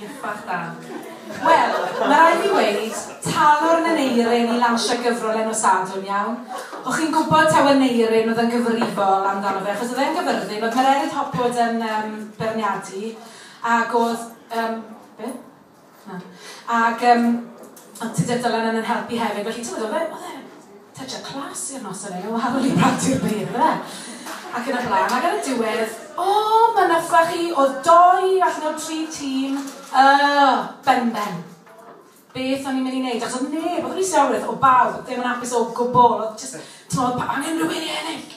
Ych bach da. Wel, ma' raid fi weud, talwrn yn Eirin i lansio gyfrol enw Sadwrn, iawn? O' chi'n gwbod taw Aneurin oedd yn gyfrifol amdano fe, achos oedd e'n gyfyrddin, oedd Mererid Hopwood yn yym beirniadu, ag oedd yym be? Na. Ag yym oedd Tudur Dylan yn yn helpu hefyd, felly t'mod oedd e oedd e Touch-up class i'r noson heno wahanol i Parti'r Beirdd ac yn y blaen ac ar y diwedd, o, mynychfa chi oedd doi allan o'r tri tîm, yy, ben ben. Beth o'n i'n mynd i wneud? Achos oedd neb, oedd yr is-iorwyr o bawb ddim yn hapus o gwbl, oedd jyst, timod, angen rhywun i ennill!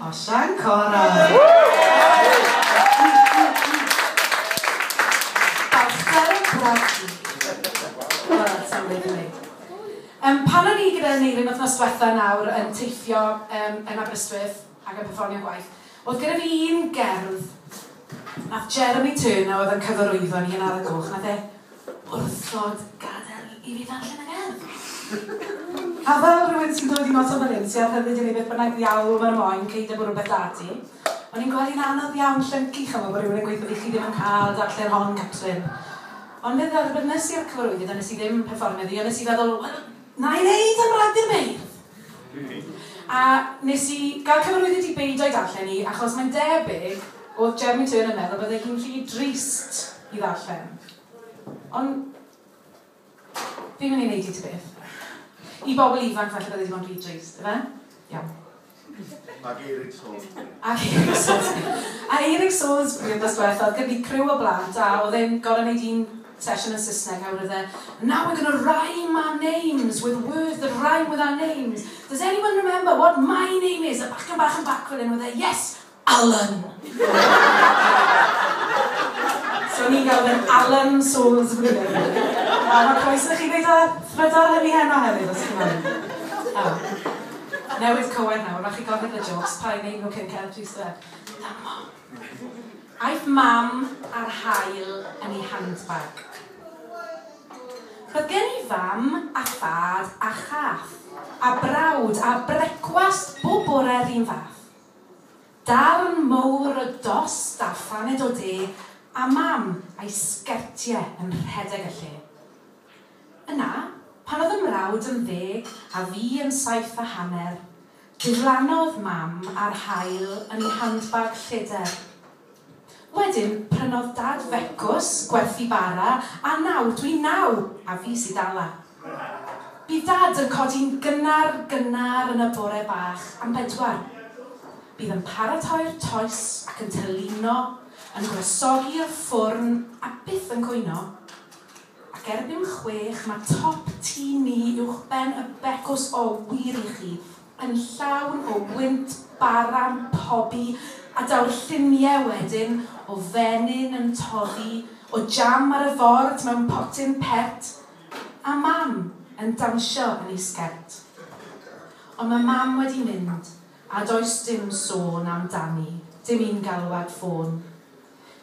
A Sian Correll! Balchder y Bradley. Wel, sai'n gwneud hynny. Yym, pan o'n i gyda Aneurin wythnos diwetha nawr yn teithio yym yn Aberystwyth ac yn perfformio gwaith, oedd gyda fi un gerdd, nath Jeremy Turner oedd yn cyfarwyddo ni yn Ar y Goch, nath e Wrthod gadael i fi ddarllen y gerdd. A fel rhywun sy'n dod i mas o fan hyn sy â rhyddid i wneud beth bynnag ddiawl maen moen cei dy bwrw beth da ti, o'n i'n gweld hi'n anodd iawn llyncu chimo bod rhywun yn gweud bod i chi ddim yn cael darllen hon Catrin. Ond fe dderbynes i'r cyfarwyddyd ond nes i ddim perfformio ddi ond nes i feddwl wel, Na i wneud yn rhag dim beirdd! A nes i gael cyfarwyddyd i beidio â'i darllen hi achos mae'n debyg o'dd Jeremy Turner yn meddwl y bydde hi'n rhy drist i ddarllen. Ond fi'm yn ei wneud hi ta beth. I bobl ifanc falle bydde 'di bod yn rhy drist, ife? Iawn. Ac Eirig Salisbury. Ac Eirig Salisbury. A Eirig Salisbury wthnos dwetha oedd gen fi criw o blant a oedd e'n gorau neud un sesiwn yn Saesneg a wedodd e Now we're gonna rhyme our names with words that rhyme with our names. Does anyone remember what my name is? A bachgen bach yn bac fan hyn oedd e Yes! Alan! So ni'n galw fe'n Alan Souls Gwynedd. A mae croeso i chi wneud o thrydar hynny heno hefyd os chi'n moyn. O. Newydd cywain nawr, rhaid chi gofyn y jokes, pa un ein nhw cyn cael tris dde. Dyma. Aeth mam ar hael yn ei handbag. Roedd gen i fam a thad a chath a brawd a brecwast bob bore'r un fath. Darn mowr o dost a phaned o de a Mam a'i sgertie yn rhedeg y lle. Yna, pan oedd 'y mrawd yn ddeg a fi yn saith a hanner, diflannodd Mam a'r haul yn ei handbag lleder. Wedyn prynodd Dad fecws, gwerthu bara, a nawr dw i'n naw, a fi sy' dala. Bydd Dad yn codi'n gynnar, gynnar yn y bore bach am bedwar. Bydd yn paratoi'r toes ac yn tylino, yn gwresogi'r ffwrn a byth yn cwyno. Ac erbyn chwech mae top tŷ ni uwchben y becws, o, wir i chi, yn llawn o wynt baran pobi a daw'r llunie wedyn o fenyn yn toddi o jam ar y ford mewn potyn pert a mam yn dansio yn ei sgert. Ond ma mam wedi mynd a does dim sôn am dani, dim un galwad ffôn.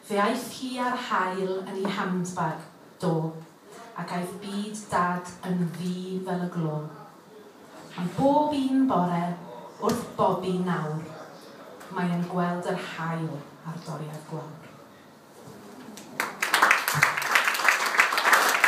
Fe aeth hi a'r hael yn ei handbag, do, ac aeth byd dad yn ddu fel y glo. Am bob un bore wrth bobi nawr mae e'n gweld yr haul a'r doriad gwawr.